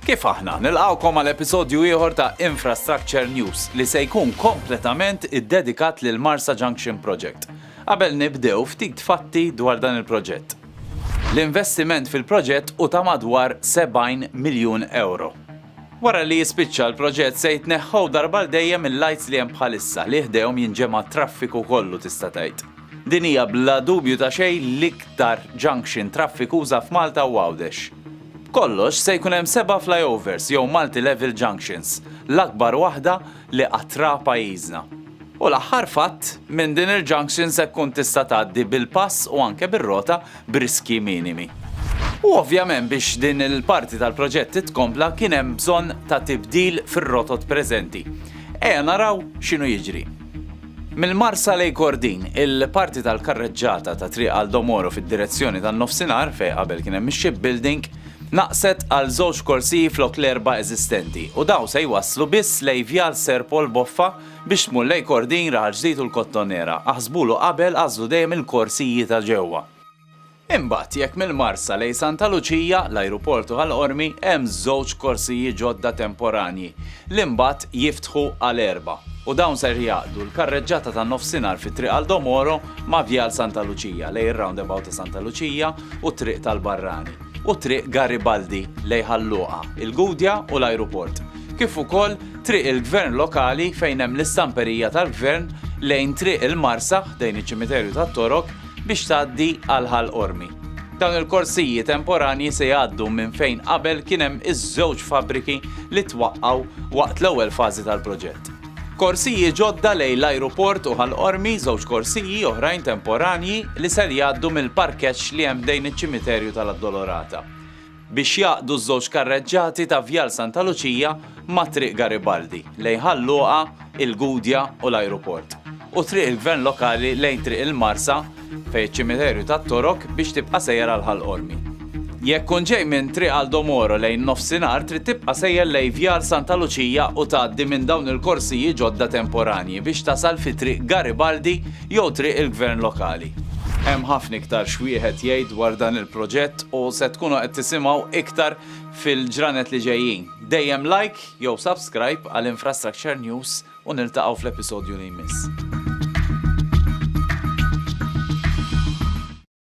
Kif aħna nilqawkom għal episodju ieħor ta' Infrastructure News li se jkun kompletament iddedikat lil Marsa Junction Project. Qabel nibdew ftit fatti dwar dan il-proġett. L-investiment fil-proġett u ta' madwar 70 miljun euro. Wara li jispiċċa l-proġett se jitneħħew darba għal dejjem il-lajts li hemm bħalissa li ħdejhom jinġema' t-traffiku kollu tista' tgħid. Din hija bla dubju ta' xejn l-iktar junction traffikuża f'Malta u Għawdex. B'kollox se jkun hemm seba' flyovers jew multi-level junctions, l-akbar waħda li qatt ra pajjiżna. U l-aħħar fatt, minn din il-junction se tkun tista' tgħaddi bil-pass u anke bir-rota b'riskji minimi. U ovvjament biex din il-parti tal-proġett titkompla kien hemm bżonn ta' tibdil fir-rotot preżenti. Ejja naraw x'inhu jiġri. Mill-Marsa lejn Kordin, il-parti tal-karreġġata ta' Triq Aldo Moro fid-direzzjoni tan-Nofsinhar, fejn qabel kien hemm ix-shipbuilding, naqset għal żewġ korsiji flok l-erba' eżistenti u dawn se jwasslu biss lejn Vjal Sir Paul Boffa biex tmur lejn Kordin, Raħal Ġdid u l-Kottonera. Aħsbulu qabel, għażlu dejjem il-korsiji ta' ġewwa. Imbagħad jekk mill-Marsa lejn Santa Luċija, l-Ajruport u Ħal Qormi hemm żewġ korsiji ġodda temporanji li mbagħad jiftħu għal erba' u dawn ser jgħaqqdu l-karreġġata tan-nofsinhar fi Triq Aldo Moro ma' Vjal Santa Luċija lejn ir-roundabout ta' Santa Luċija u t-Triq tal-Barrani u Triq Garibaldi lejn Ħal Luqa, il-Gudja u l-ajruport, kif ukoll Triq il-Gvern Lokali fejn hemm l-istamperija tal-Gvern lejn Triq il-Marsa ħdejn iċ-Ċimiterju tat-Torok biex tgħaddi għal Ħal Qormi. Dawn il-korsiji temporanji se jgħaddu minn fejn qabel kien hemm iż-żewġ fabbriki li twaqqgħu waqt l-ewwel fażi tal-proġett. Korsiji ġodda lejn l-ajruport u Ħal Qormi, żewġ korsiji oħrajn temporanji li ser jgħaddu mill-parkeġġ li hemm ħdejn iċ-Ċimiterju tal-Addolorata biex jgħaqqdu ż-żewġ karreġġati ta' Vjal Santa Luċija ma' Triq Garibaldi lejn Ħal Luqa, il-Gudja u l-ajruport, u Triq il-Gvern Lokali lejn Triq il-Marsa fejn iċ-ċimiterju tat-Torok biex tibqa' sejjer għal Ħal Qormi. Jekk tkun ġej minn Triq Aldomoro lejn nofsinhar trid tibqa' sejjer lejn Vjar Santa Luċija u tgħaddi minn dawn il-korsiji ġodda temporanji biex tasal fi Triq Garibaldi jew Triq il-Gvern Lokali. Hemm ħafna iktar x'wieħed jgħid dwar dan il-proġett u se tkunu qed tisimgħu iktar fil-ġranet li ġejjin. Dejjem like jew subscribe għal Infrastructure News. U niltaqgħu fl-episodju li jmiss.